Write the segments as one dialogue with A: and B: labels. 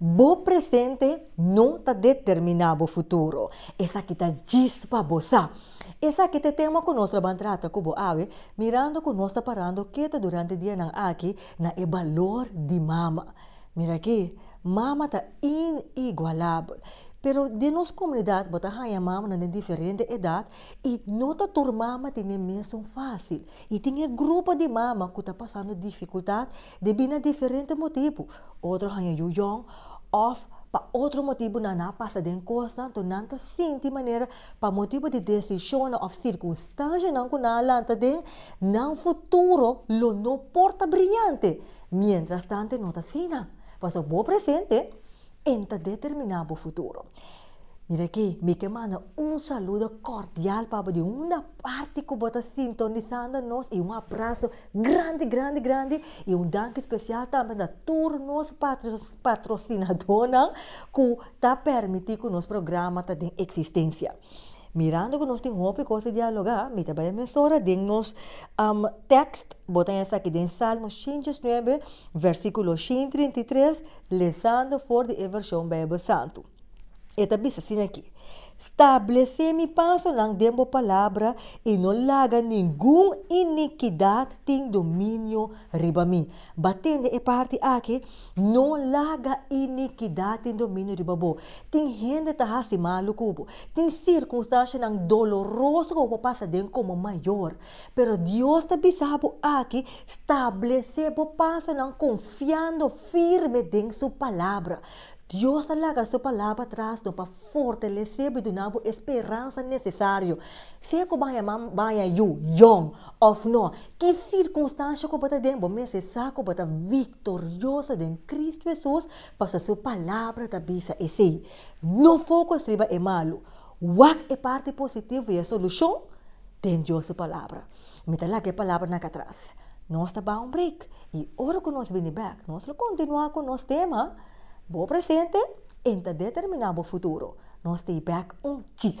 A: Bo presente no ta determiná bo futuro. Esaki ta djis pa bo sa. Esaki ta e tema ku nos lo ban trata ku bo awe, mirando ku nos ta parando ketu durante dianan aki na e balor di mama. Mira aki, mama ta inigualabel. Pero den nos komunidat bo ta haña mamanan den diferente edat i no ta tur mama tin e mesun fásil. I tin e grupo di mama ku ta pasando difikultat. Di bina diferente motibu, otro haña yu yòn òf pa otro motibunan a pasa den kos tantu nan ta sinti manera pa motibu di desishonnan òf sirkunstanshanan ku nan a lanta den, nan futuro lo no por ta briñante mientras tante no ta asina. Pasobra bo presente. En ta determiná bo futuro. Mira akí, mi ke manda un saludo kordial pa bo di unda parti ku bo ta sintonisando nos i un abraso grandi, grandi, grandi i un danki spesial tambe na tur nos patrosinadónan ku ta pèrmití ku nos programa ta den eksistensia. Mirando ku nos tin hopi kos di dialogá, mi ta bai a mesora den nos tèkst. Bota esaki den Salmo shinchi es nuebe, vèrsikulo shin trinta i tres, lesando for di e vershon Beibel Santu. E ta bisa asina aki, Stablesé mi pasonan den bo palabra i no laga ningun inikidat tin dominio riba mi. Ba tende e parti aki, No laga inikidat tin dominio riba bo. Tin hende ta hasi malu ku bo. Tin sirkunstanshanan doloroso ku bo por pasa den komo mayor. Pero Dios ta bisa bo aki, Stablesé bo pasonan konfiando firme den Su Palabra. Dios ta laga Su Palabra tras no pa fortalesé bo i duna bo e speransa nesesario. Sea ku bo a yama baña yu, yòn, òf nò, ki sirkunstansha ku bo ta den, bo mester sa ku bo ta víktima. Victorioso den Cristo Hesus, pasa su Palabra ta bisa esei. No foco striba e malu. Wak e parti positivo y e solucion den Dios su Palabra. Mi ta laga e palabranan aca atras. Nos ta bay un break y ora cu nos bini bek, nos lo continua cu nos tema, Bo presente en ta determina bo futuro. Nos ta y bek un chis.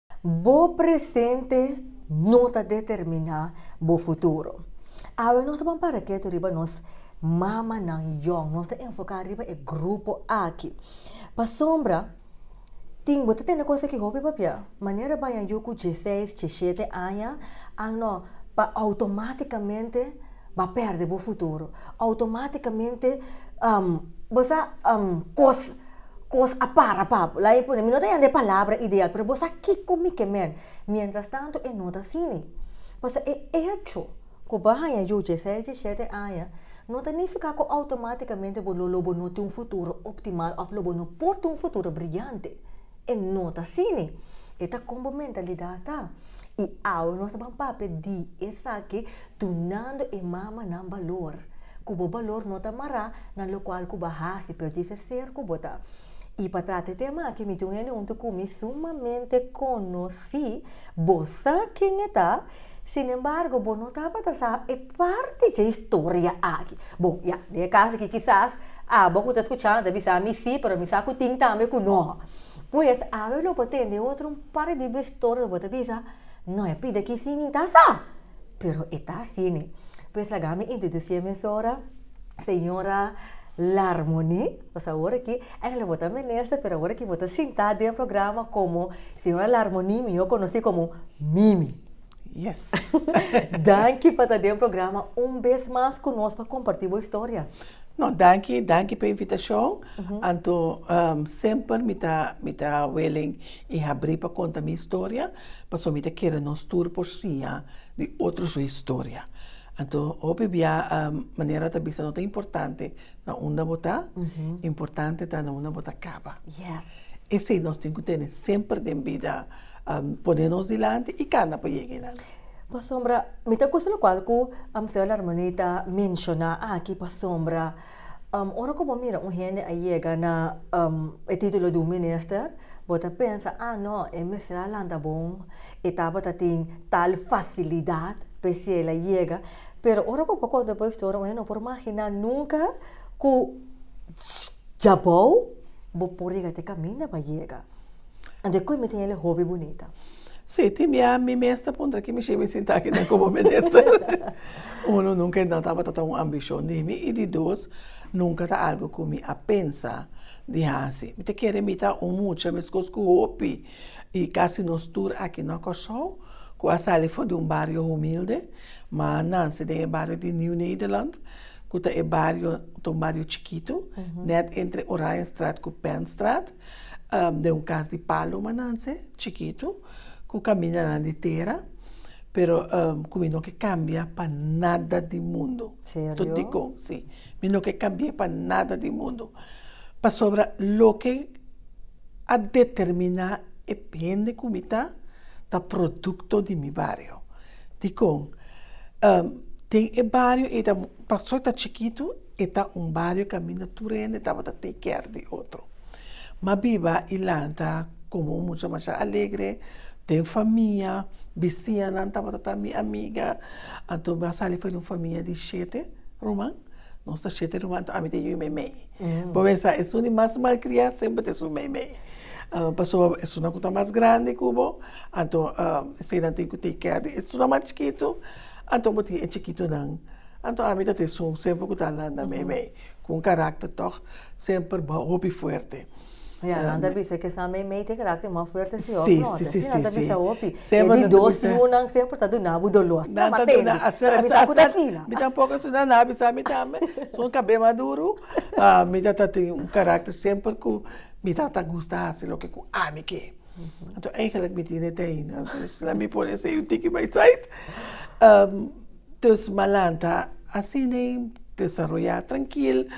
A: Bo presente no ta determiná bo futuro. Awe nos ta pon para ketu riba nos mamanan yòn. Nos ta enfoká riba e grupo aki. Pasobra tin bo ta tene kos aki hopi papia. Manera baña yu ku dje seis, dje shete aña, a no pa outomátikamente ba pèrdè bo futuro. Outomátikamente bo sa kos. Kos a para papu. Lae pone, mi no ta yanda e palabra ideal, pero bo sa kiko mi ke men? Mientras tanto e no ta sini. Pasobra e echo ku bo a haña yu dieseis, diesiete aña no ta nifiká ku outomátikamente bo lo bo no tin un futuro optimal òf lo bo no por tin un futuro briyante. E no ta sini. E ta kon bo mentalidat ta. I awe nos ta ban papia di esaki. Dunando e mamanan balor, ku bo balor no ta mará na lokual ku bo a hasi, pero dje se ser ku bo ta. I pa trata e tema aki mi tin un hende huntu ku mi sumamente konosí, bo sa ken e ta, sin embargo bo no tabata sa e parti dje historia aki. Bon, ya, den e kas aki kisas abo ku ta skuchando ta bisa mi sí, pero mi sa ku tin tambe ku no. Pues, awe lo bo tende otro un par di historia lo bo ta bisa, no, ya pida ki sí mi ta sa. Pero e ta asini. Pues laga mi introducí e mesora, señora Larmony. Pues awor aki, eigenlijk bo ta minister, pero awor aki bo ta sintá den e programa komo señora Larmony, mihó konosí komo Mimi. Yes. Danki pa ta den e programa un bes mas ku nos pa kompartí bo historia. No, danki,
B: danki p'e invitashon. Anto, semper mi ta, mi ta willing i habrí pa konta mi historia. Pasobra mi ta kere nos tur por siña di otro su historia. Anto hopi bia manera a ta bisa no ta importante na unda bo ta, importante ta na unda bo ta kaba.
A: Esei nos tin
B: ku tene semper den bida pone nos dilanti i kanda pa yega einan. Pasobra
A: mi ta kusa lokual ku Amsel Armonita ta menshoná aki pasobra. Um, ora ku bo mira un hende a yega na um, e titulo di un minister, bo ta pensa, ah no, e mester a lanta bon, e tabata tin tal facilidad, p'esei el a yega. Pero ora ku bo konta bo historia, un hende no por magina nunca ku djabou bo por yega te kaminda pa yega. Anto e koe mi tin el e hopi bunita. Sí, tin bia
B: mi mes ta puntra ki mi shin mi sinta aki na komo minister. Uno, nunka e no tabata ta un ambishon di mi i di dos, nunka ta algu ku mi a pensa di hasi. Mi ta kere imita un mucha meskos ku hopi i kasi nos tur aki na Kòrsou ku a sali for di un bario humilde, ma a nanse den e bario di Nieuw Nederland ku ta e bario, ta un bario chikitu, nèt entre Oranjestraat ku Pennstraat. Den un kas di palomanan sey, chikitu, ku kamiña nan di tera, pero ku mi no ke kambia pa nada di mundu. Serio? Tot dikon,
A: si.
B: Mi no ke kambi'é pa nada di mundu. Pasobra loke a determiná e hende ku mi ta, ta produkto di mi bario. Dikon? Den e bario ei ta, pasobra ta chikitu, E ta un bario kaminda tur hende tabata take care di otro. Ma biba i lanta komo un mucha masha alegre, den famia, bisiñanan tabata ta mi amiga. Anto mi a sali for di un famia di shete ruman, nos ta shete ruman, anto ami ta yu meimei. Bo mester sa esun di mas malkria semper ta esun meimei. Pasobra esunnan ku ta mas grandi ku bo, anto eseinan tin ku take care di esunnan mas chikitu, anto bo tin e chikitunan. Anto ami ta tin sun semper ku ta Alanda Meimei ku un karakter tòg semper hopi fuerte. I Alanda
A: bisa ke sa Meimei tin karakter mò fuerte si òf nò. Te asina nan ta bisa hopi.
B: E di
A: dos yu
B: nan
A: semper ta duna bo doló. Asina nan matende. Pero
B: mi
A: sa ku ta fina. Mi tampoco asina nan a
B: bisa mi tambe. Sun kabé maduru. Mi ta ta tin un karakter semper ku mi ta ta gusta hasi loke ku ami ke. Anto eigenlik mi tin e te aina. Asina mi por esei un tiki bai sait. Dus manan ta asina desaroyá trankil.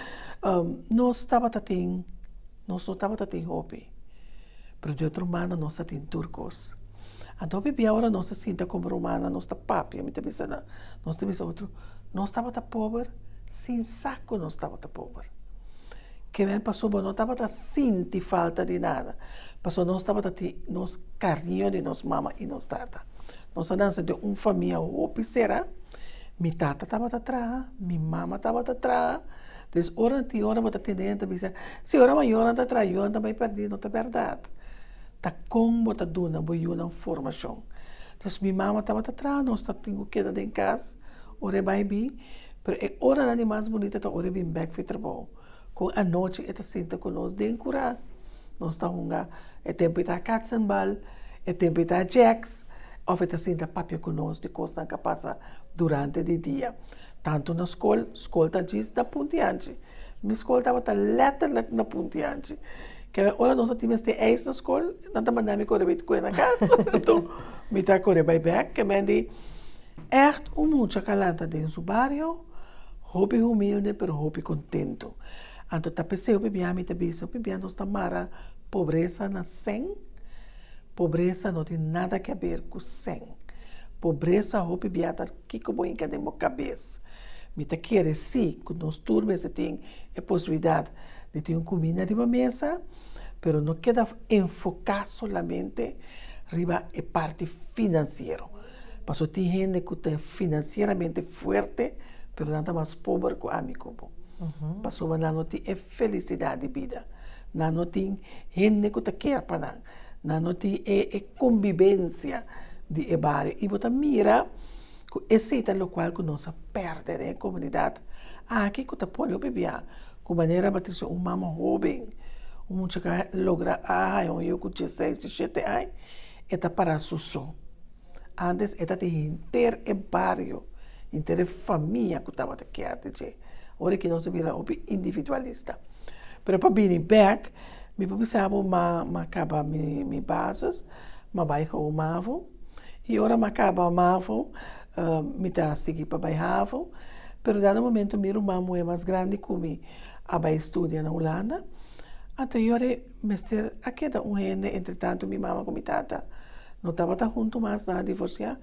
B: Nos tabata tin, nos no tabata tin hopi, pero di otro manda nos a tin tur kos. Anto bibian ora nos ta sinta komo rumana, nos ta papia, mi ta bisa nan, nos ta bisa otro, nos tabata pober sin sa ku nos tabata pober. Ke men pasó bo no tabata sinti falta di nada, pasobra nos tabata tin nos kariño di nos mama i nos tata. Nos a dansa den un famia hopi sera, mi tata tabata traha, mi mama tabata traha, pues ora nan tin ora bo ta tende hende ta bisa, si ora mayornan ta traha yunan ta bai perdi, no ta berdad, ta kon bo ta duna bo yunan formashon, pues mi mama tabata traha nos ta tin ku keda den kas ora e bai bin, pero e oranan di mas bunita ta ora e bin bèk fi trabou. Kon anochi e ta sinta ku nos den kurá. Nos ta hunga. E tempu i ta katsenbal, e tempu i ta jèks òf e ta sinta papia ku nos di kosnan ku a pasa durante di dia. Tantu na skol, skol ta djis na punti anchi. Mi skol tabata lètterlèk na punti anchi. Kèn ora nos a tin mester eis na skol, nan ta manda mi kore bai kue na kas. Enton, mi ta kore bai bèk. Kèn mende ègt un mucha kalanta den su bario. Hopi humilde pero hopi contento. Anto ta p'esey hopi bia mi ta bisa hopi bia nos ta mara pobreza na sen. Pobreza no tin nada ke haber cu sen. Pobreza hopi bia ta kiko bo hinca den bo cabez. Mi ta kere si cu nos tur mester tin e posibilidad di tin un cuminda riba mesa. pero no keda enfoká solamente riba e parti finansiero. Pasobra tin hende ku ta finansieramente fuerte, pero nan ta mas pober ku ami ku bo. Pasobra nan no tin e felisidat di bida, nan no tin hende ku ta ker pa nan, nan no tin e kombibensia di e bario. I bo ta mira Ku esei ta lokual ku nos a pèrdè den e komunidat aki ku ta pone opibiá ku manera Patricia, un mama hóben, un mucha ku a logra a haña un yu ku dieseis, dieshete aña, e ta pará su so. Ántes e ta tin henter e bario, henter e famia ku tabata kier di dje. Ora aki nos a bira hopi individualista. Pero pa bini bèk mi por bisa bo ma mi a kaba mi bases. Ma bai hou mavo. I ora ma kaba mavo, mi ta sigui pa bai havo. Pero dado momento mi ruman muhé mas grandi ku mi a bai studia na Hulanda. Anto yor e mester a keda un hende. Entretantu mi mama ku mi tata no tabata huntu mas, nan a divorsiá.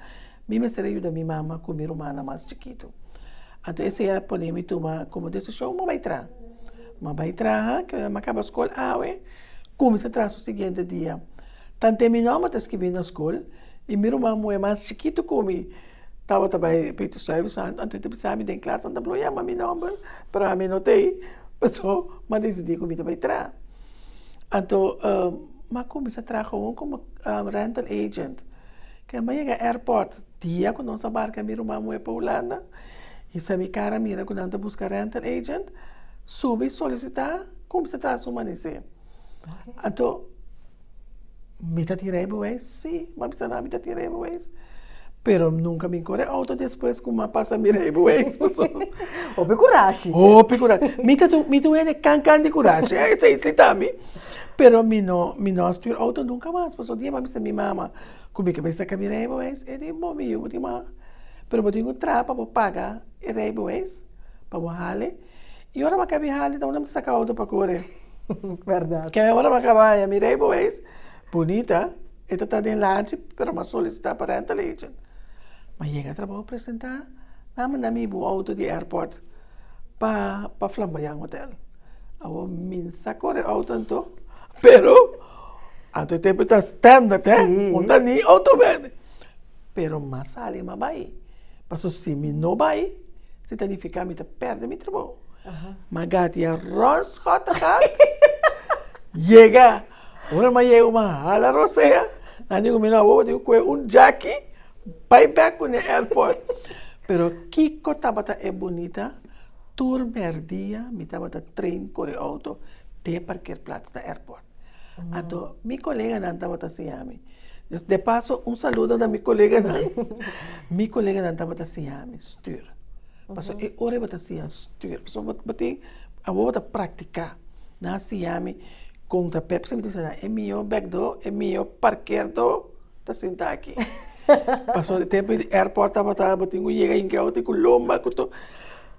B: Mi mester a yuda mi mama ku mi rumannan mas chikitu. Anto esei a pone mi tuma komo desishon ma bai traha. Ma bai traha, ke ora ma kaba skol awe. Kuminsa traha su siguiente dia. Tant'e mi nòmen ta skirbí na skol i mi ruman muhé mas chikitu ku mi tabata bai Peitu Suave Santu, anto e ta bisa mi den klas, nan ta bloyama mi nòmber, pero ami no t'ei, pasobra mi a desidí ku mi ta bai traha. Anto mi a kuminsá traha gowon komo rental agent. Ken mi a yega airport, dia ku nos a barka mi ruman muhé pa Hulanda, i sa mi kara mira ku nan ta buska rental agent, subi solisitá. Kum se ta sumanesé? Anto mi ta tira e bewes? Sí, bo a bisa nan mi ta tira e bewes. Pero nunka mi kore outo despues ku mi a pasa mira e bewes, paso. Hopi
A: kurashi. Hopi kurashi. Mi
B: ta mi ta wende kan kan di kurashi, esei si ta mi. Pero mi no mi no a stuer outo nunka mas, paso un dia mi a bisa mi mama ku mi ke bai saka mi reibeweis, e di bo mi yu, bo tin wak, pero bo tin ku traha pa bo paga e reibeweis pa bo hale. Y ora bo kabi hali ta un dam ta saka auto pa kore. Verdad.
A: Ke ora bo
B: kaba haya mira e boeis bunita e ta ta den lanchi pero mas solicita pa rental agent. Ma yega trabaho presenta nan manda mi bo auto di airport pa pa flamboyan hotel. Awo mi sa kore auto anto pero anto e tempo ta standard he un ta ni auto bende. pero mas ale m'a bai, paso si mi no bai, si ta nifiká mi ta pèrdè mi trabou. M'Agati a rònt skòt a gat, yega, ora m'a yega m'a hala Rosea, a diku mi, no awowo tin ku'e un djaki bai bèk ku ne airport. Pero kiko tabata e bunita, tur mèrdia mi tabata train kore outo te parkeerplats na airport. Anto mi koleganan tabata siñami. Dus de paso un saludo na mi koleganan. Mi koleganan tabata siñami stür. Paso e ora e bo ta siña stür, paso bo bo tin, awor bo ta praktiká. Nan siñami kon ta pèpsi, mi ta bisa nan e mihó bèk do, e mihó parker do ta sinta aki. Paso e tempu di airport tabata, bo tin ku yega inke outi ku lomba ku to.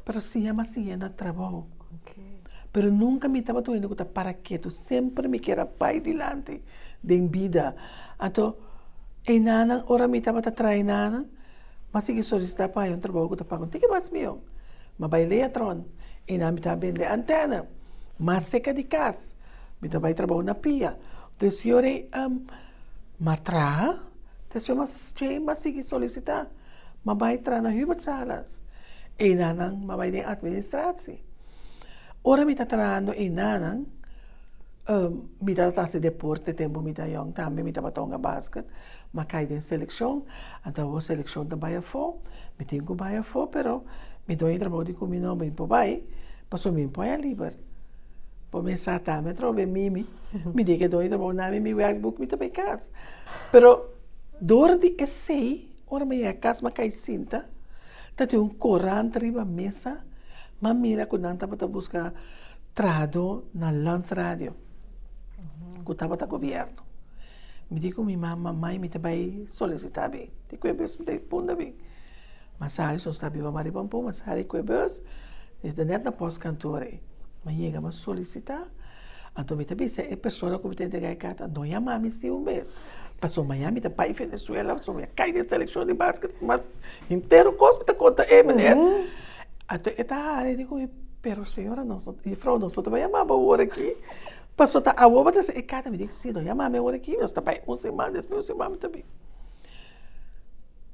B: Pero siña mas siña na trabou. Pero nunka mi tabata un hende ku ta para ketu, semper mi kier a bai dilanti den bida. Anto e nannan, ora mi tabata trae nannan, mi a sigui solisitá pa haña un trabou ku ta paga un tiki mas mihó. Mi a bai Leatron, e nan mi tabatin bende antèna mas seka di kas, mi ta bai trabou na pia. Tok e siñor ei mi a traha, despues mi a sigui solisitá. M'a bai tra na hubertsalas. Enanan m'a bai den atministratie. Ora mi ta trahando enanan, mi ta ta hasi deporte tempu mi ta yòn tambe. Mi tabata hunga basket, m'a kai den selekshon. Anto awor selekshon ta bai afó, mi tin ku bai afó, pero mi done trabou di ku mi no bin por bai, pasobra mi bin por haña liber. Bo mes sa tambe atrò wei mimi, mi di ke done trabou na mi, mi wèk buk mi ta bai kas. Pero dor di esei Ora mi yega cas mi a cay sinta, ta tin un corant riba mesa, mi a mira cu nan tabata busca trahado na Lans Radio, cu tabata gobierno. Mi di cu mi mama, Mai, mi ta bay solicita abi, tin cu e bus mi ta bay punda abi. Mi a sali, so sta biba Maria Pampon, mi a sali cu e bus, mi ta net na post kantoor ey. Mi a yega, mi a solicita. Anto mi ta bisa e persona ku mi ta entrega e karta, a doña mami si un bes, paso maña mi ta bai Venezuela, paso mi a kai den selekshon di basket mas henter kos mi ta konta e meneer. Anto e ta haña, e di ku mi, pero señora, nosoto, jufrou, nosoto bai yama bo wor aki, paso ta awor bo ta trese e karta? Mi di, si, doña mami a wor aki, nos ta bai un siman, despues un siman mi ta bin.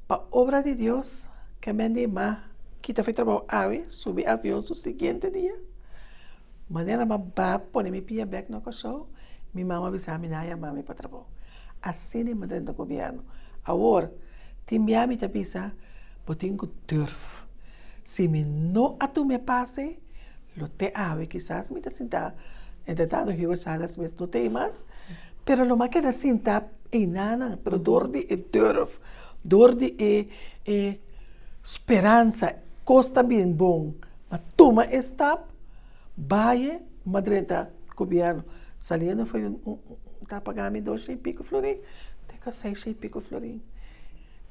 B: Pa obra di Dios, kemen di ma kita fi trabou awe, subi avion su siguiente dia. Manera ma ba pone mi pia bek na Kòrsou, mi mama a bisa mi nan a yama mi pa trabou. Asina i madren ta gobièrnu. Awor, tin bia mi ta bisa, Bo tin ku durf. Si mi no a tum'é pase, lo te awe kisas mi ta sintá. Entretantu Hubert Salas mes no ta ei mas, pero lo m'a keda sintá einanan, pero dor di e durf, dor di e speransa, kos ta bin bon. Pa tuma e stap baye ma drenta gobierno. Saliendo fue un un ta paga mi dos shei pico florin te ka seis shei pico florin.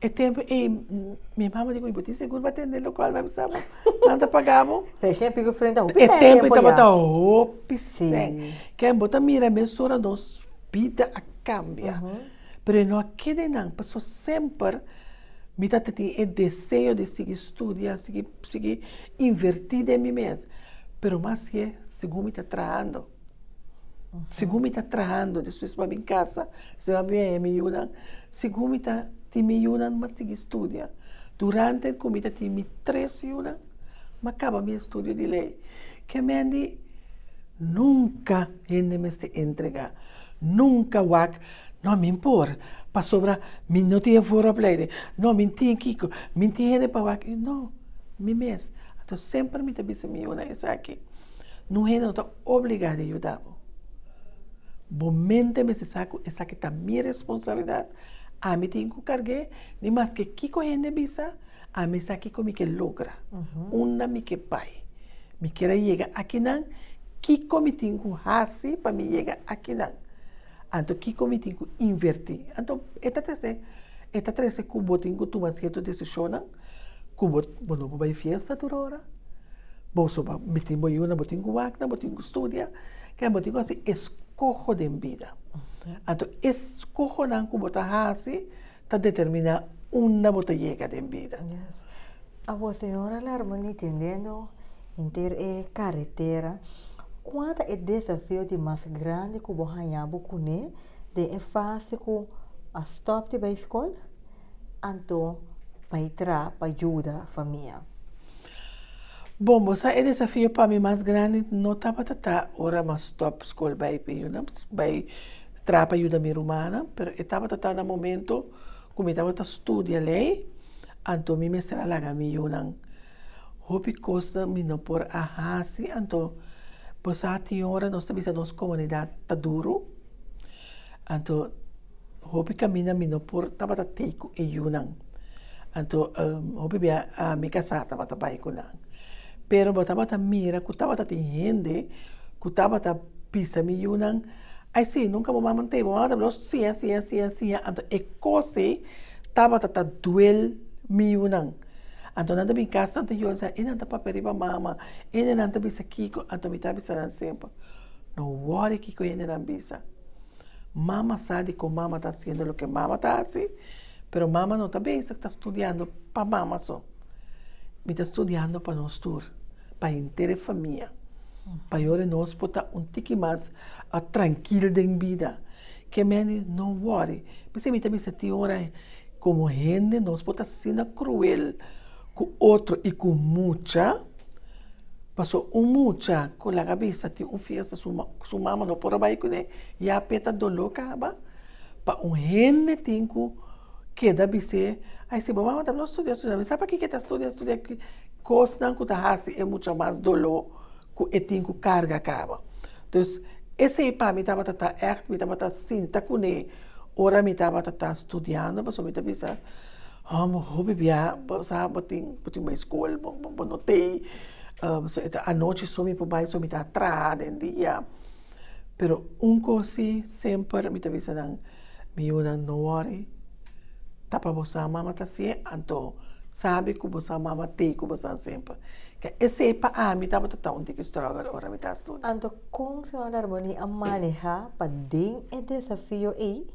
B: E tempo ei mi mama di koe bo tin segur bo a tende local na bisa bo nan ta paga bo. Seis shei pico florin ta
A: hopi sèn e tempo ya. E tempo ei tabata
B: hopi sèn. Ken bo ta mira mes ora nos bida a cambia. Pero e no a keda einan, pasobra semper mi ta tene e deseo di sigui studia, sigui sigui inverti den mi mes, pero mas ke segun mi ta trahando, segun mi ta trahando, despues mi a bin kasa, si mi a bin haña mi yunan, segun mi ta tin mi yunan mi a sigui studia, durante ku mi ta tin mi tres yunan mi a kaba mi estudio di lei, ke mendi nunka hende mester entrega, nunka wak No, min por, pasobra min no tin e vooropleiding. No, min tin kiko, min tin hende pa wak. No, mi mes. Anto semper mi ta bisa mi yunan esaki, Un hende no ta obligá di yuda bo. Bo mente mester sa ku esaki ta mi responsabilidat. Ami tin ku karg'é i maske kiko hende bisa, ami sa kiko mi ke logra, unda mi ke bai. Mi ker a yega akinan, kiko mi tin ku hasi pa mi yega akinan? Anto kiko mi tin ku invertí? Anto e ta trese, e ta trese ku bo tin ku tuma sierto desishonnan ku bo, bo no por bai fiesta tur ora, bo so pa mitin bo yuna, bo tin ku wak nan, bo tin ku studia, ke bo tin ku hasi eskoho den bida. Anto eskohonan ku bo ta hasi. ta determiná unda bo ta yega den bida. Yes.
A: A bo señora Larman ntendendo henter e karetera, kua ta e desafio di mas grandi ku bo haña bo kuné den e fase ku a stòp di bai skol anto bai tra pa yuda famia?
B: Bon, bo sa e desafio pa mi mas grandi no tabata ta ora mi a stòp skol bai p'e yunan bai. Traha pa yuda mi rumannan, pero e tabata ta na momento ku mi tabata studia lei, anto mi mester a laga mi yunan. Hopi kosnan mi no por a hasi, anto bo sa tin ora nos ta bisa nos komunidat ta duru, anto hopi kaminda mi no por tabata tei ku e yunan, anto hopi bia ami kasá tabata bai ku nan. Pero bo tabata mira ku tabata tin hende ku tabata bisa mi yunan. Ai si, nunca bo mama n'tei, bo mama ta habla nos siña, siña, siña, siña, anto e cos ei tabata ta duel miunan, anto nan ta bin cas Santa Yoli sa, e nan ta papia riba mama, ene nan ta bisa kico, anto mi ta bisa nan semper, no worry kico ene nan bisa, mama sa di con mama ta haciendo loke mama ta haci, pero mama no ta bezig ta studiando pa mama so, mi ta studiando pa nos tur. Pa henter e famia, pa yora nos por ta un tiki mas trankil den bida. Ke mende no wòri. Mi sibi ta bisa tin ora komo hende nos por ta asina kruel ku otro i ku mucha. Pasobra un mucha ku laga bisa tin un fiesta su ma, su mama no por a bai kuné, ya p'e ta doló kaba. Pa un hende tin ku keda bis'é, ai si bo mama tabata studia, studia, mi sa pakiko e ta studia, studia. Kosnan ku ta hasi e mucha mas doló ku e tin ku karga kaba. Dus, esei pa mi tabata ta ègt, mi tabata sinta kuné ora mi tabata ta studiando, pasobra mi ta bisa, Hò, mi hopi bia, bo sa, bo tin, bo tin bai skol, bo, bo no tei, so e ta anochi so mi por bai, so mi ta traha den dia. Pero un kos si, semper mi ta bisa nan, Mi yunan, no wòri. Ta pa bosa mama ta siña, anto sabi ku bosa mama tei ku bosanan semper. Ke esei pa ami tabata ta un tiki strògel ora mi ta studia. Anto kon Señor
A: Darboni a manehá pa den e desafio ei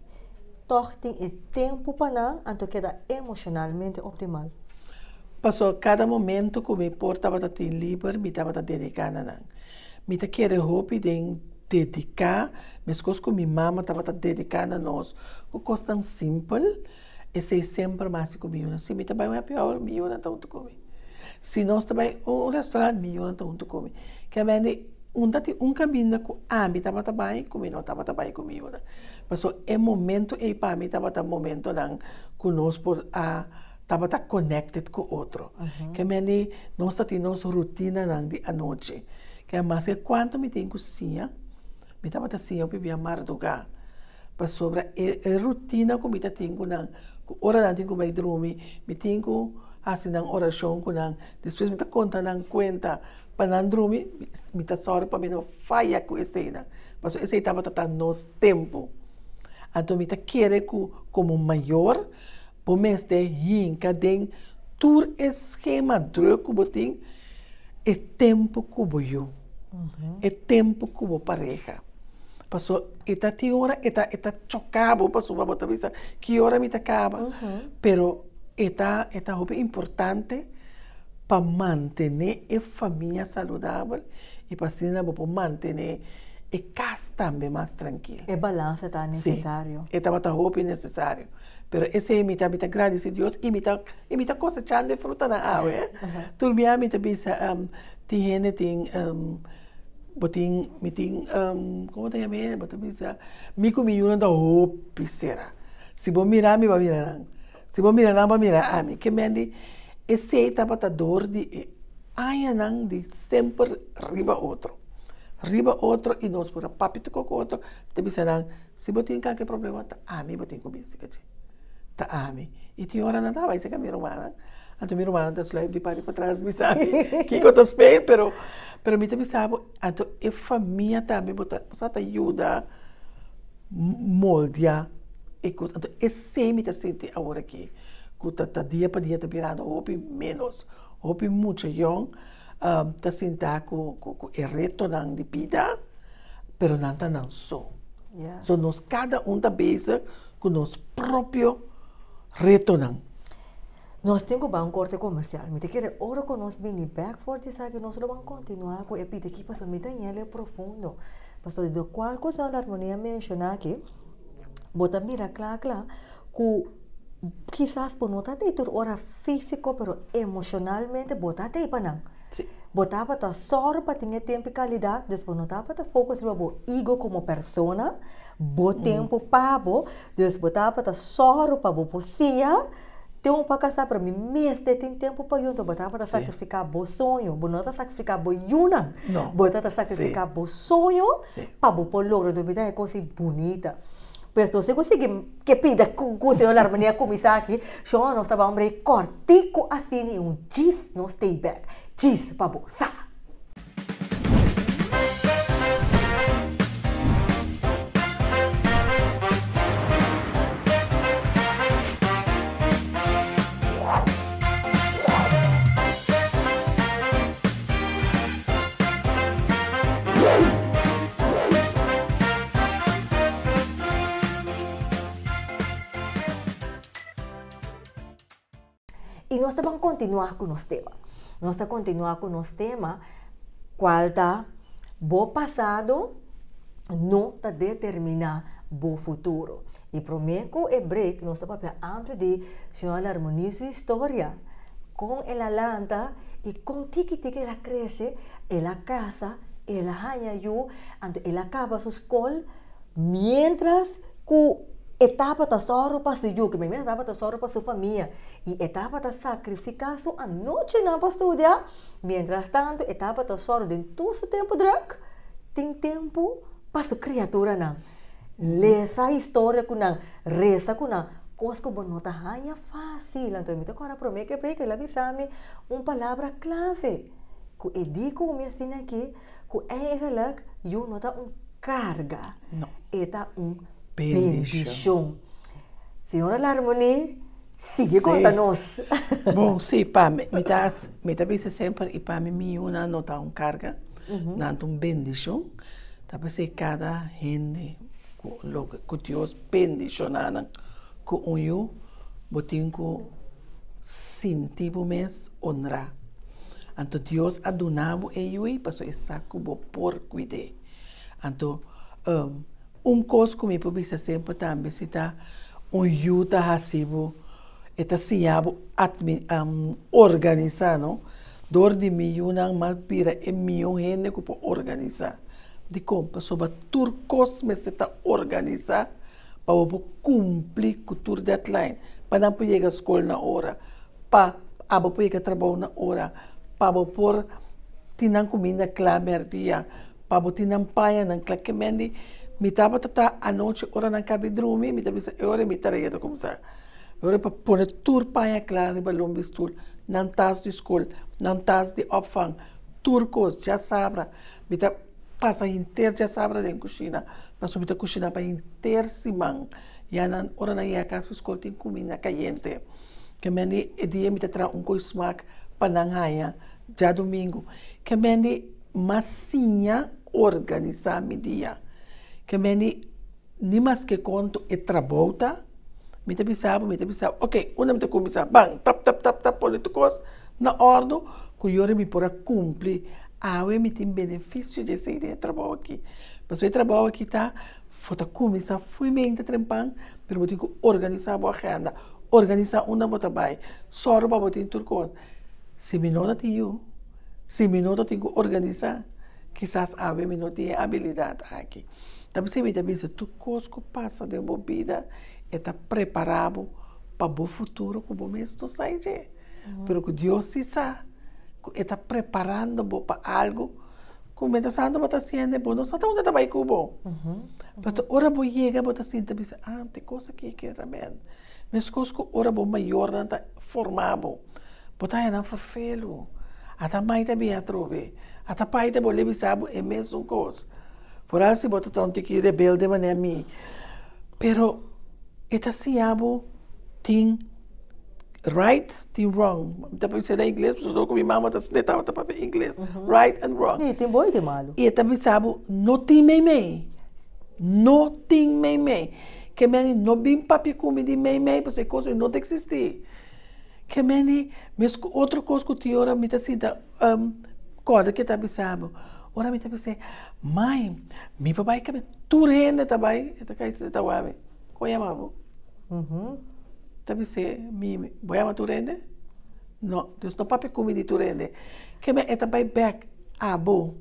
A: tòg tin e tempu pa nan anto keda emoshonalmente optimal? Pasó
B: kada momentu ku mi por tabata tin liber, mi tabata dediká na nan. Mi ta kere hopi den dediká meskos ku mi mama tabata dediká na nos ku kosnan simpel, esei semper mas di ku mi yunan. Si mi ta bai un happy hour, mi yunan ta huntu ku mi. Si nos ta bai un restaurant, mi yunan ta huntu ku mi. Ke mende un ta tin un kaminda ku ami tabata bai ku mi no tabata bai ku mi yunan. Pasobra e momento ei pa mi tabata momentonan ku nos por a. Tabata connected cu otro. Ke mende nos ta tin nos rutinanan di anochi. Ke mas ke cuanto mi tin cu siña, mi tabata siña hopi bia marduga. Pasobra e rutina cu mi ta tin cu nan, cu ora nan tin cu bay drumi, mi tin cu haci nan oracion cu nan, despues mi ta conta nan cuenta pa nan drumi, mi ta sor pa mi no faya cu eseynan. Pasobra esey tabata ta nos tempo. Anto mi ta kere cu como mayor. Bo mester hinka den tur e skema druk ku bo tin e tempu ku bo yu, e tempu ku bo pareha. Paso e ta tin ora e ta e ta choka bo pasobra bo ta bisa ki ora mi ta kaba. Pero e ta e ta hopi importante pa mantene e famia saludabel i pa asina bo por mantene e kas tambe mas trankil. E balansa ta
A: nesesario. Si, e tabata hopi
B: nesesario. Pero esei mi ta mi ta gradisi Dios i mi ta i mi ta kosechando e frutanan awe. Tur biaha mi ta bisa, tin hende tin bo tin mi tin komo ta yam'e? Bo ta bisa, mi ku mi yunan ta hopi sera. Si bo mira mi, bo a mira nan. Si bo mira nan, bo a mira ami. Ke men di esei tabata dor di e añanan di semper riba otro, riba otro i nos por a papia tukua ku otro ta bisa nan. Si bo tin kalke problema, ta ami bo tin ku binsi ka dje. Ta ami. I tin ora nan ta bai serka mi rumannan, anto mi rumannan ta sluip di padi patras bisa mi kiko ta spein, pero pero mi ta bisa bo, anto e famia tambe bo ta bo sa ta yuda moldia e kusa. Anto esei mi ta sinti awor aki ku ta ta dia pa dia ta birando hopi ménos, hopi mucha yon. ta sinta ku e retonan di bida, pero nan ta nan so. So nos kada un ta bezig ku nos propio retonan.
A: Nos tin ku ban korte komersial. Mi ta kere ora ku nos bini bek for di esaki nos lo ban kontinua ku e bida aki pasobra mi ta yela e profundo. Pasobra di akordo ku Armonia a menshona aki, bo ta mira kla kla Cu kisas bo no ta tey tur ora fisico pero emocionalmente bo ta tey pa nan. Si. Bo
B: tabata
A: sor pa tin e tempo y calidad, dus bo no tabata focus riba bo ego como persona, bo tempo pa bo, dus bo tabata sor pa bo por siña, tin un pa casa pero mi mester tin tempo pa yo, enton bo tabata sacrifica bo soño, bo no ta sacrifica bo yunan, bo ta ta sacrifica bo soño pa bo por logra, enton mi ta e cos y bunita. Pues nos tin ku sigui ke pida ku Señor laga mane a kuminsá aki, Señor nos ta bambra e kòrtiku asina i un chis nos stay back chis pa bo sa. Y nos ta van continuar con nos tema. Nos ta continuar con nos tema, cual ta, bo pasado no ta determina bo futuro. I promé ku e break nos ta papia ampli di Señora Larmoni su historia, kon el a lanta i kon tiki tiki el a krese, el a kasa, el a haña yu, anto el a kaba su skol, miéntras ku e tabata sòru pa su yu, ke mester tabata sòru pa su famia, i e tabata sakrifiká su anochinan pa studia, miéntras tantu e tabata sòru den tur su tempu drùk, tin tempu pa su kriaturanan. Lesa historia ku nan, resa ku nan, kos ku bo no ta haña fásil. Anto mi ta kòrda promé ke preka, el a bisa mi un palabra klave ku e di ku mi a siña aki, ku eigelijk yu no ta un karga, e ta
B: un
A: bendishon. Señora Larmonie. Sigui konta nos. Bon, sí,
B: pa mi, mi ta, mi ta bisa semper, i pa mi miunan no ta un karga, nan ta un bendishon. Ta p'esei kada hende ku lo ku Dios bendishoná nan ku un yu, bo tin ku sinti bo mes onrá. Anto Dios a duna bo e yu ei pasobra e sa ku bo por kuid'é. Anto. Un kos ku mi por bisa semper tambe si ta un yu ta hasi bo e ta siña bo admi organisá no dor di mi yunan mas bira e mihó hende ku por organisá dikon pasoba tur kos mester ta organisá pa bo por kumpli ku tur deadline pa nan por yega skol na ora pa abo por yega trabou na ora pa bo por tin nan kuminda kla mèrdia Pa bo tin nan paña nan clakemendi mi tabata ta anochi ora nan cabi drumi mi ta bisa e ora mi tarea ta comsa e ora pa pone tur paña clara riba lombi stoel nan tas di school nan tas di opvang tur cos djasabra mi ta pasa henter djasabra den cushina pasobra mi ta cushina pa henter siman ya nan ora nan yega cas pi school tin cuminda cayente kemendi e dia mi ta traha un coismaak pa nan haña dja domingo kemendi. Mas siña organisa mi dia. Ke meni ni mas ke konto e trabou ta. Mi ta bisa bo, mi ta bisa bo, oke, unda mi ta kuminsá? Ban, tap, tap, tap, tap, pone tur kos na òrdu ku yora mi por a kumpli. Awe mi tin benefisio di esei den e trabou akí. Pasobra e trabou akí ta for ta kuminsá fuimente trempan, pero bo tin ku organisa bo agenda, organisa unda bo ta bai, sòru pa bo tin tur kos. Si mi no ta tin yu. Si mi no ta tin cu organisa, kisas awe mi no tin e abilidad aki. Ta p'esei mi ta bisa, tur cos cu pasa den bo bida e ta prepara bo pa bo futuro cu bo mes no sa e dje. Pero cu Dios si sa cu e ta preparando bo pa algo cu mientras tanto bo ta haciendo bo no sa ta unda ta bay cu bo. Pero ora bo yega bo ta sinti ta bisa, ah, tin cos aki que realmente, mescos cu ora bo mayornan ta forma bo. Bo ta hañanan fafelu. Ata mai ta bin atrobe. Ata pai ta bolé bisa bo e mesun kos. Foral si bo ta ta un tiki rebelde manera mi. Pero e ta siña bo tin right, tin wrong. Mi ta bisa na ingles pasobra ora ku mi mama ta sina e tabata papia ingles, right and wrong. Sí, tin bon i tin malu. I
A: e ta bisa bo,
B: no tin meimei. No tin meimei. Ke men no bin papia ku mi di meimei pasobra e kos ei no ta eksistí. Ke meni mes ku otro kos ku tin ora mi ta sinta kòrda ke ta bisa bo, ora mi ta bisa e, Mai, mi pa bai kabia tur hende ta bai, e ta kai sisa ta wak mi, kon a yama bo? Ta bisa e, Mimi, bo a yama tur hende? No, Dios no papia ku mi di tur hende. Ke mei e ta bai bèk, Abo,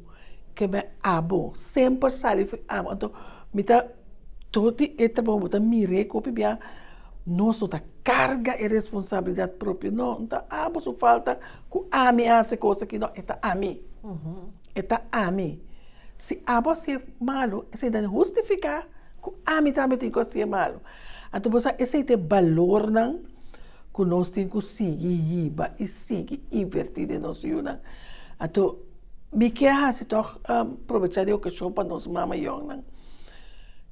B: ke mei abo, semper sali fu abo. Anto mi ta tur di e trabou bo ta mira e ku opi biaha. Nos no ta carga e responsabilidad propio, no, no ta abo su falta cu ami a haci cosa aki, no, e ta ami, e ta ami. Si abo haci e malo, esey ta hustifica cu ami tambe tin cu haci e malo. Anto bo sa esey ta e balornan cu nos tin cu sigui yiba y sigui inverti den nos yunan. Anto mi ke a haci tok probecha di ocasion pa nos mamayonan.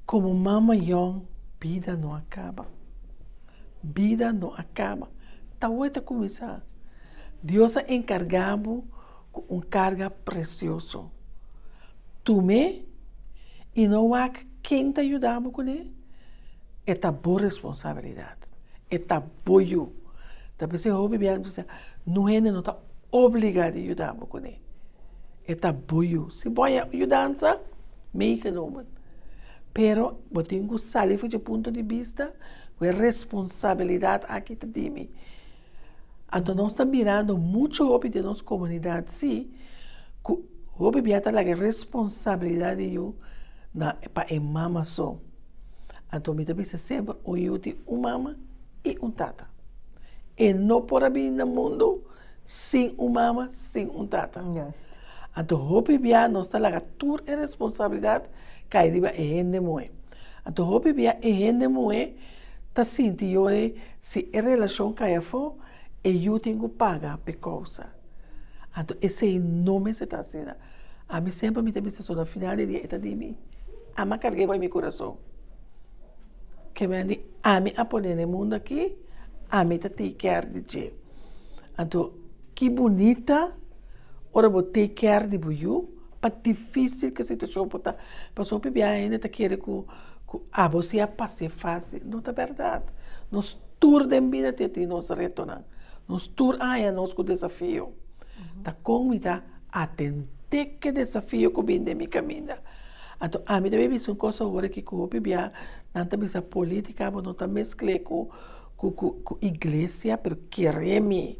B: Komo mama yòn, bida no a kaba. Bida no a kaba, ta hoy ta kuminsá. Dios a enkargá bo ku un karga presioso. Tum'é i no wak ken ta yuda bo kuné, e ta bo responsabilidat, e ta bo yu. Dapé si e hopi bia, no hende no ta obliga di yuda bo kuné. E ta bo yu. Si bo a haña yudansa, make a nomen. Pero bo tin ku sali fuchi e punto di bista ku e responsabilidat aki ta di mi. Anto nos ta mirando muchu hopi den nos komunidat si ku hopi bia ta laga e responsabilidat di yu na pa e mama so. Anto mi ta bisa semper un yu tin un mama. i un tata. E no por a bini na mundu sin un mama, sin un tata. Anto hopi bia nos ta laga tur e responsabilidat kai riba e hende muhé. Anto hopi bia e hende muhé ta sinti yore si e relashon kai afó e yu tin ku paga p'e kousa. Anto esei no mester ta asina. Ami semper mi ta bisa so na final di dia e ta di mi. Ama karg'e bai mi kurason. Kebia di ami a pone na e mundu aki, ami ta take care di dje. Anto, ki bunita ora bo take care di bo yu, pa difisil ki e situashon por ta, pasobra hopi biaha hende ta kere ku abo si a pas'é fasil, no ta bèrdat. Nos tur den bida tin e tin nos retonan, nos tur a haña nos ku desafio, ta kon mi ta atendé ki desafio ku bini den mi kaminda. Anto ami ta bin bisa un kos awor aki ku hopi bia nan ta bisa politika abo no ta meskl'e ku ku iglesia pero kere mi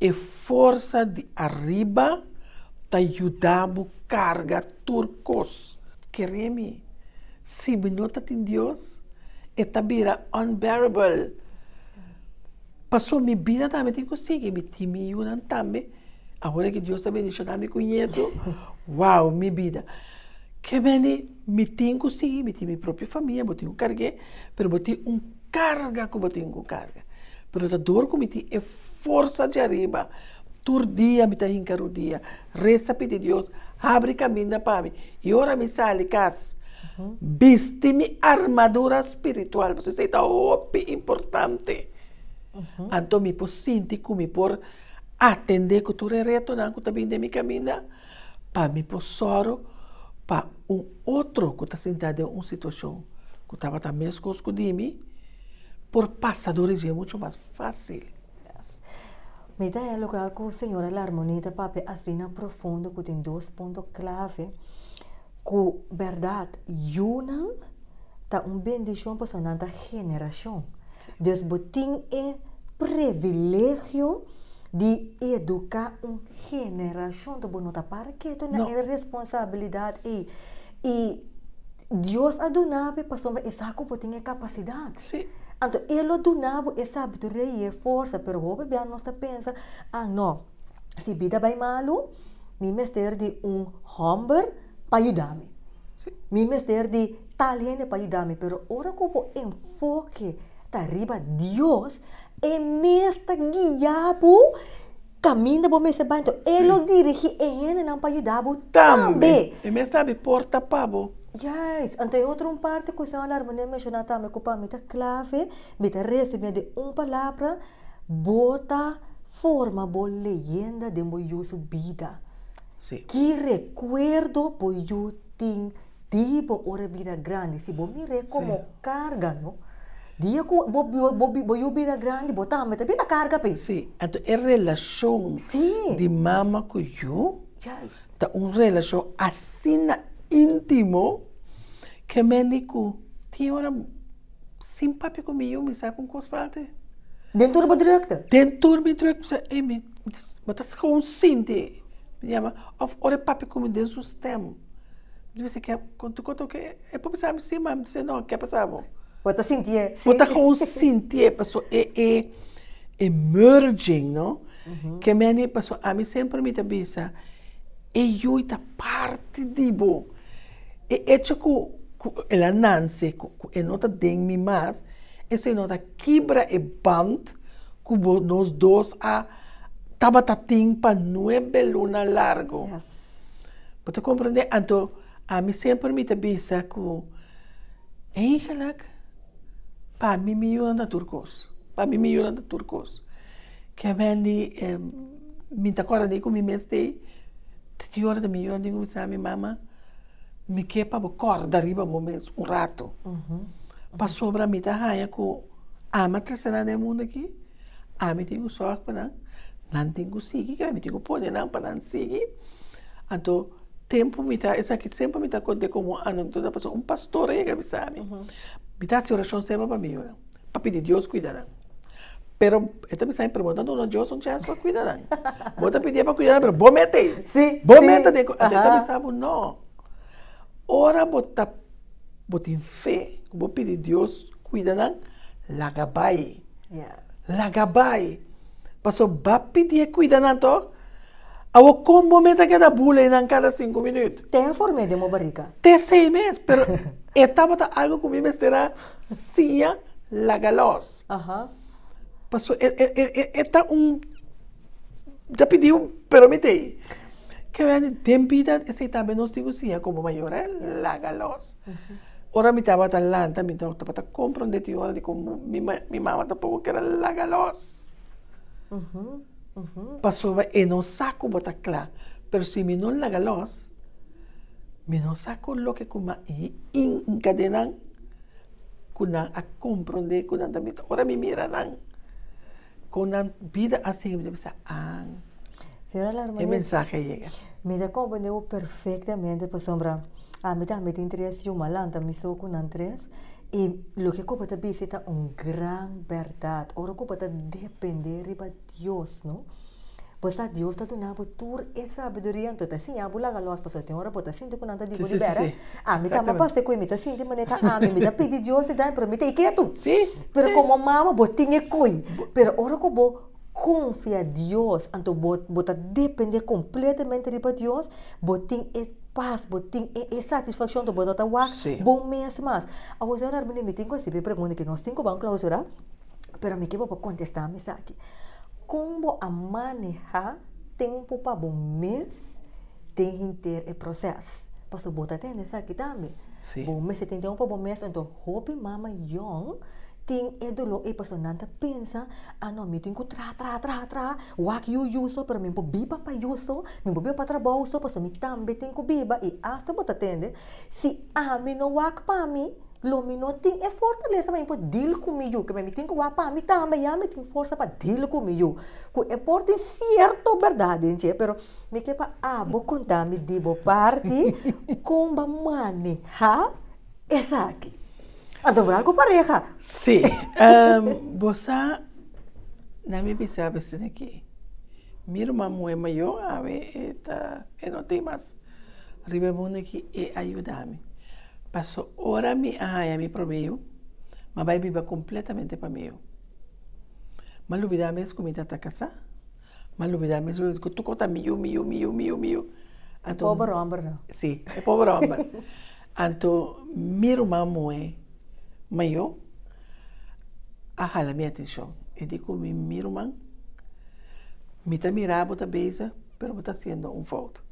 B: e forsa di ariba ta yuda bo karga tur kos kere mi si mi no ta tin Dios e ta bira unbearable paso mi bida tambe tin ku sigui mi tin mi yunan tambe. Awor ki Dios a bendiciona mi cu nieto, wow, mi bida. Ke mende mi tin cu si, mi tin mi propio famia, bo tin cu carge, pero bo tin un carga cu bo tin cu carga. Pero ta dor cu mi tin e forsa dje ariba, tur dia mi ta hinca rudia, resa pidi Dios, habri caminda pa mi. Y ora mi sali cas, bisti mi armadura spiritual, pasobra esey ta hopi importante. Anto mi por sinti cu mi por. Atendé ku tur e retonan ku ta bin den mi kaminda pa mi por sòru pa un otro ku ta sintá den un situashon ku tabata meskos ku di mi por pasa dor i dje muchu mas fásil.
A: Mi ta dialoga ku señora Larmonie ta papia asina profundo ku tin dos punto klave ku bèrdat yunan ta un bendishon pasobra nan ta generashon. Dus bo tin e privilegio di educa un generacion ta bo no ta para ketu na e responsabilidad ey y Dios a duna be pasobra e sa cu bo tin e capacidad anto
B: e lo
A: duna bo e sabiduria y e forsa pero hopi bia nos ta pensa ah no. si bida bai malu, mi mester di un hòmber pa yuda mi. Mi mester di tal hende pa yuda mi. Pero ora ku bo enfoke ta riba Dios, e mes ta guia bo kaminda bo mester bai. Enton, e lo dirigí e hendenan pa yuda bo tambe. E mes ta abri porta
B: pa bo. Yes. Anto
A: e otro un parti ku e señor Larminé a menshoná tambe ku pa mi ta klave, mi ta resumié den un palabra. Bo ta forma bo leyenda den bo yu su bida. Sí. Ki
B: rekuerdo
A: bo yu tin di bo ora bira grandi? Si bo mir'é komo karga, no? Dia ku bo bo yu bira grandi, bo tambe ta bira karga p'e. Sí. Anto e
B: relashon. Sí. Di mama ku yu. Juist. Ta
A: un relashon
B: asina intimo ke mende ku tin ora. Sin papia ku mi yu mi sa kon kos falta. Den tur bo
A: drukte. Den tur mi drukte mi
B: sa ei mi bo ta skon sinti mi yama òf ora e papia ku mi den su stèm mi ta bisa ke konta ku ta ke e por bisa mi si ma mi ta se no ke pasa bo. Bo ta sinti e
A: si. Bo ta kon
B: sinti e paso e e e murging no ke meni paso ami semper mi ta bisa e yu ta parti di bo E echo ku ku el a nanse ku ku e no ta den mi mas, esei no ta kibra e band ku bo nos dos a tabata tin pa nuebe luna largu.
A: Bo ta
B: komprende? Anto ami semper mi ta bisa ku, Eigenlik pa mi mi yuna ta tur kos, pa mi mi yuna ta tur kos. Ke Wendy, mi ta kòrda di ku mi mes stay di ora mi yò, di kumsa mi mama, mi ke pa bo kòrda riba bo mes un ratu. Pasobra mi ta haña ku ama trese nan den mundu aki, ami tin ku sòg pa nan, nan tin ku sigui ke ami tin ku pone nan pa nan sigui. Anto tempu mi ta, esaki semper mi ta kont'é komo anu anto ta pasá, un pastor a yega bisa mi, mi ta hasi orashon semper pa mi yunan. pa pidi Dios kuida nan. Pero e ta bisa e pregunta no lo Dios un chance pa kuida nan. Bo ta pidié pa kuida nan pero bo mete ei. Sí, sí. Bo mete den
A: ku anto e
B: ta bisa bo no. Ora bo ta bo tin fe ku bo pidi Dios kuida nan laga bai. Laga bai. Pasobra bo a pidié kuida nan to. Awor kon bo mete a keda bula einan kada sinku minüt? Te afor mes den bo
A: bariga. Te sei mes
B: pero e tabata algu ku mi mester a. Siña laga los. Paso e ta un, ta pidi un peromete. Ke bai di den bida esei tambe nos tin ku siña komo mayor, laga los. Ora mi tabata lanta, mi tabata komprondé tin ora di ku mi mama tampoco keda laga los. Pasoba e no sa ku bo ta kla. Pero si mi no laga lòs, mi no sa kon loke ku m'a enkadenan ku nan a komprondé ku nan ta mi. Ora mi mira nan, kon nan bida a sigui, mi ta bisa, an, e mensahe a yega. Mi ta komprendé bo
A: perfektamente, pasobra Ami tambe tin tres yu malan ta mi so cu nan tres y loke cu bo ta bisti ta un gran berdad ora cu bo ta depende riba Dios no bo sa Dios ta duna bo tur e sabiduria enton ta siña bo laga los pasobra tin ora bo ta sinti cu nan ta di bo di bera ami ta amaba pasobra cu mi ta sinti manera ta ami mi ta pidi Dios mi ta dai pero mi ta y ketu pero como
B: mama
A: bo tin e coy pero ora cu bo confia Dios, anto bo bo ta depende completamente riba Dios, bo tin e paz, bo tin e e satisfaccion anto bo ta ta wak bo mes mas. Awo sor Hermina mi tin cu a sibi e pregunta aki, nos tin cu ban clausura, pero mi ke bo bo contesta mi esaki, con bo a maneha tempo pa bo mes? den hinter e proces. Paso bo ta tende esaki tambe. Sí. Bo mester tin tempo pa bo mes. Enton hopi mama yòn tin e dolor ei paso nan ta pensa, ah no, mi tin ku traha, traha, traha, traha, wak yu yu so, pero mi por biba pa yu so, mi por biba pa trabou so, paso mi tambe tin ku biba. I asta bo ta tende, si ami no wak pa mi, lo mi no tin e fortalesa pa mi por dil ku mi yu. Kibia? Mi tin ku wak pa mi tambe ya mi tin forsa pa dil ku mi yu. Ku e por tin sierto berdad den dje, pero. Mi ke pa abo konta mi di bo parti kon bo a maneha esaki. Anto bo ta ku pareha. Sí,
B: bo sa nan mi bisa a bese na ke mi ruman muhe mayo awe e ta e no tin mas riba e mundu aki e a yuda mi. Paso ora mi a haña mi promé yu mi a bai biba kompletamente pa mi yu. Mi a lubida mes ku mi ta ta kasá. M'a lubidá mes ui ku tuko ta miu, miu, miu, miu, miu. E pober
A: hòmber no. Sí, e pober hòmber.
B: Anto mi ruman muhé mayó a hala mi atenshon. E di ku mi, mi ruman, mi ta mirá bo ta beza, pero bo ta hasiendo un fout.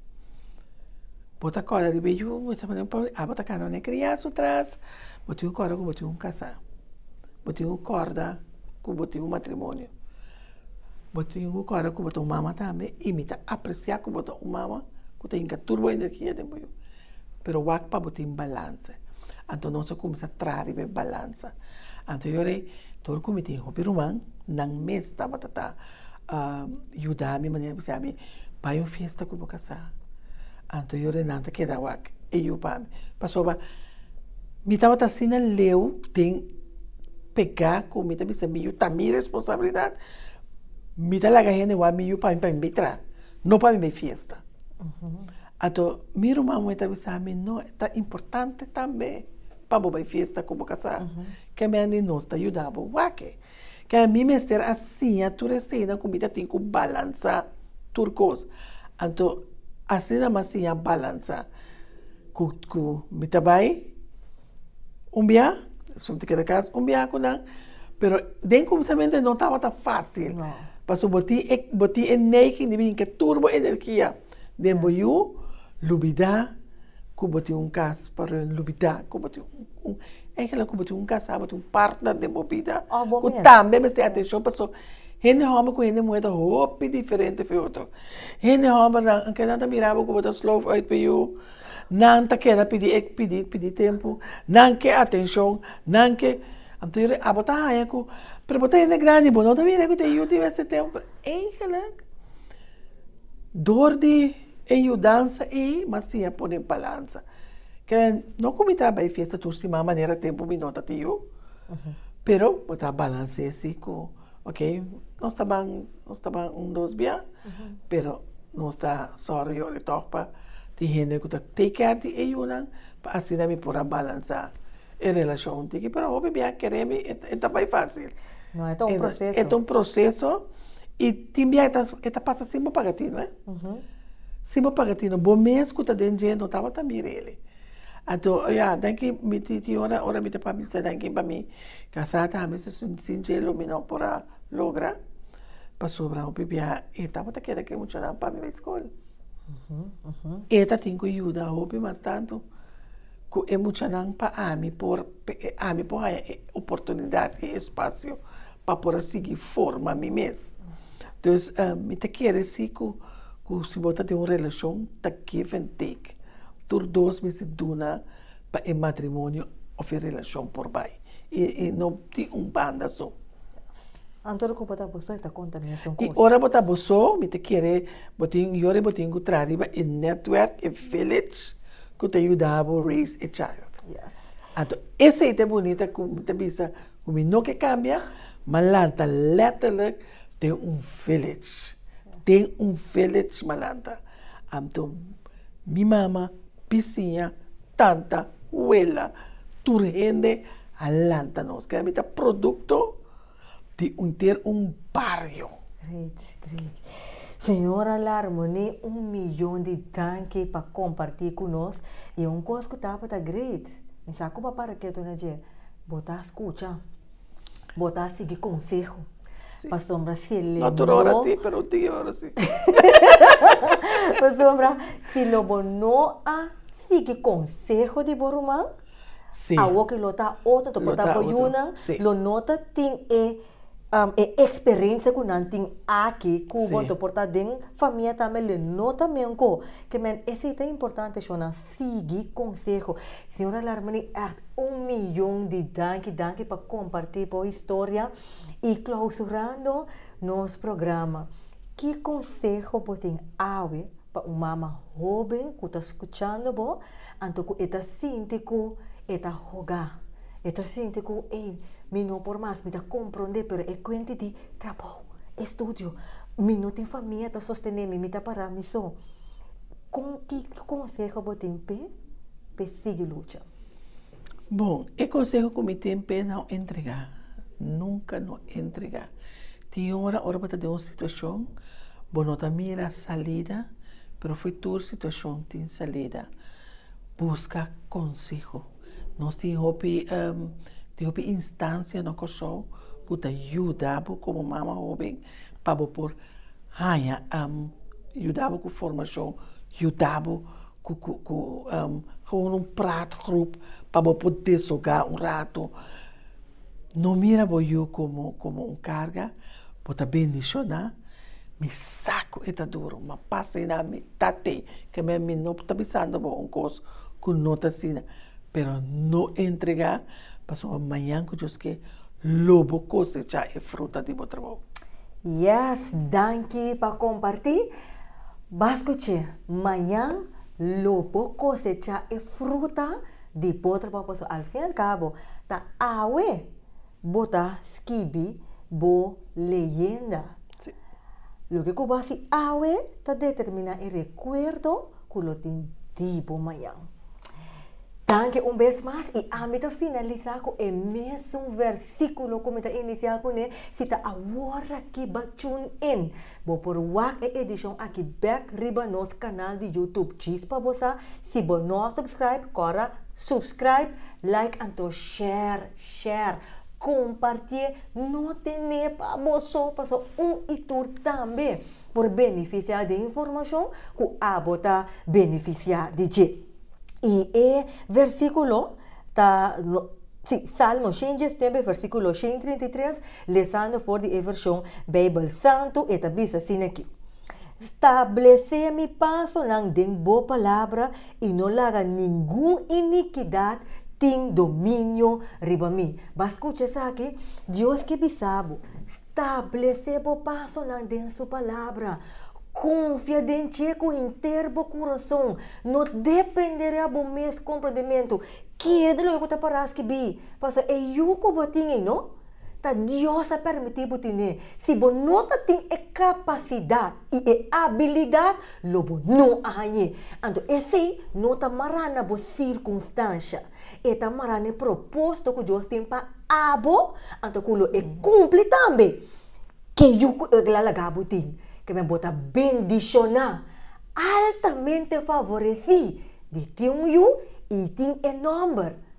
B: Bo ta kòrda riba e yu, bo ta pone un pòdje, abo ta kanda nan e kriá su tras, bo tin ku kòrda ku bo tin ku kasá. Bo tin ku kòrda ku bo tin un matrimonio. Bo tin ku kòrda ku bo ta un mama tambe i mi ta apresiá ku bo ta un mama ku ta hinka tur bo energia den bo yu. Pero wak pa bo tin balanse. Anto nos a kumsa traha riba e balansa. Anto yora ei, tur ku mi tin hopi ruman, nan mes tabata ta yuda mi manera di bisé ami, Bai un fiesta ku bo kasá. Anto yora ei nan ta keda wak e yu pa mi. Pasoba mi tabata asina leu den. Pega ku mi ta bisa mi yu ta mi responsabilidat, mi ta laga hende wak mi yu pa mi pa mi bai traha, no pa mi bai fiesta. Anto mi ruman moe ta bisa mi, no, ta importante tambe pa bo bai fiesta ku bo kasa, ke men di nos ta yuda bo wak. Ke a mi mester a siña tur esena ku mi ta tin ku balansa tur kos. Anto asina mi a siña balansa ku ku mi ta bai. un biaha, su ta keda kas un biaha ku nan, pero den kumsamentu no tabata fásil. No. Pasobra bo tin e, bo tin e neiging di bin ke tur bo energia den bo yu, lubidá ku bo tin un kas pa reuní, lubidá ku bo tin un, eigenlijk ku bo tin un kasá, bo tin un partner den bo bida. Òf bo mes. Ku tambe mester atenshon paso hende hòmber ku hende muhé ta hopi diferente for e otro. Hende hòmbernan, anke nan ta mira bo ku bo ta slow uit pa e yu. Nan ta keda pidi e pidi pidi tempu, nan ke atenshon, nan ke anto yo re abo ta haña ku pero bo ta hende grandi bo no ta bira ku den yu di mester tempu. Eigenlik dor di e yudansa ei mas tin a pone balansa. Kende no ku mi ta bai fiesta tur siman manera tempu mi no ta te yu pero bo ta balans'é si ku. Ok, nos ta ban, nos ta ban un dos bia, pero nos ta sòru yò di tòg pa tin hende ku ta take care di e yunan pa asina mi por a balansá e relashon di ki pero hopi bia kere mi e ta bai fásil. No, e ta un
A: proseso. E ta un proseso
B: i tin bia e ta pasa sin bo paga tino, e. Sin bo paga tino. Bo mes ku ta den dje no tabata mira el. Anto, ya, danki mi tin ora mi ta papia mi ta fala danki pa mi. Casá ta ami su sin cielo mi no por a logra pasobra hopi bia e tabata keda cu e muchanan pa mi bay school e ta tin cu yuda hopi mas tanto cu e muchanan pa ami por ami por haya e oportunidad y espacio pa por a sigui forma mi mes entonces mi ta kere si cu cu si bo ta den un relacion ta give and take tur dos mi si duna pa e matrimonio of e relacion por bay y no tin un banda so. Anto
A: ora cu bo ta bo so y ta conta mesun cos. Y ora bo ta bo so
B: mi ta kere bo tin yo y bo tin cu traha riba e network, e village cu ta yuda bo raise e child. Yes. Anto esey ta e bunita cu mi ta bisa cu mi no ke cambia Malanta letterlijk tin un village, tin un village Malanta. Anto. Mi mama, bisiña, tanta, wela, tur hende a lanta nos. Kaya mi ta produkto di hunter un bario. Great,
A: great. Señora Larmonie, un miyon di danki pa kompartí ku nos. I un kos ku tabata great, mi sa ku papá Reketo na dje, bo ta skucha. Bo ta sigui konseho. Pasobra si e lei no. Tur ora si, pero
B: tin e ora si.
A: Pasobra si lo bo no a sigui konseho di bo ruman, awor ke lo ta otro, ta por ta bo yunan, lo no ta tin e eksperensia ku nan tin aki, ku bo ta por ta den famia tambe, lo no ta men ko. Ke men, esei ta importante, shonnan. Sigui conseho. Señora Larmani echt un millón di danki danki pa comparti bo historia y clausurando nos programa ki conseho bo tin awe pa un mama hoben cu ta scuchando bo anto cu e ta sinti cu e ta hoga e ta sinti cu ey mi no por mas mi ta comprende pero e cuenti di trabou. e studio. Mi no tin famia ta sostené mi, mi ta pará mi so. Kon, ki konseho bo tin p'e p'e sigui lucha? Bon,
B: e konseho ku mi tin p'e no entregá, nunka no entregá. Tin ora, ora bo ta den un situashon, bo no ta mira salida, pero fo'i tur situashon tin salida. Buska konseho. Nos tin hopi tin hopi instancia na Kòrsou ku ta yuda bo komo mama hoben pa bo por haña yuda bo ku formashon, yuda bo ku ku ku un prat grup pa bo por desogá un rato. No mira bo yu komo komo un karga, bo ta bendishoná. Mi sa ku e ta duru, ma pas asina mi Tati, ke men mi no ta bisando bo un kos ku no ta asina, pero no entregá, pasobra mañan ku Dios ke, lo bo kosechá e fruta di bo trabou. Yes,
A: danki pa kompartí. B'as kuch'é, mañan lo bo kosechá e fruta. Di potro pa potro, al fin al cabo ta awe bo ta skibi bo leyenda. Sí.
B: Loke cu bo
A: haci awe ta determina e recuerdo cu lo tin di bo mañan. Danki un bes mas y ami ta finalisa cu e mesun versiculo cu mi ta inicia cu ne, si ta aworaki ba tune in, bo por wak e edicion aki bek riba nos canal di YouTube djis pa bo sa, Si bo no a subscribe kora subscribe like anto share share kompartié no tené pa boso paso un i tur tambe por benefisiá den informashon ku abo ta benefisiá di dje i e versíkulo ta si salmo shen diesnuebe versíkulo shen trinta i tres lesando for di e vershon beibel santu e ta bisa asina ki. Stablesé mi pasonan den bo palabra i no laga ningun inikidat tin dominio riba mi. Bai skucha esaki, Dios ke bisa bo, Stablesé bo pasonan den su palabra. Konfia den Dje ku henter bo kurason. No dependé riba bo mes komprendementu. Keda loke ku ta pará skibi, pasobra e yu ku bo tin ei no. Ta Dios a permití bo tene. Si bo no ta tin e kapasidat i e abilidat, lo bo no a hañ'é. Anto esei no ta mará na bo sirkunstansha. E ta mará na e propósito ku Dios tin pa abo, anto ku lo e kumpli tambe ke yu ku el a laga bo tin. Kemia bo ta bendishoná, altamente favoresí di tin un yu i tin e nòmber.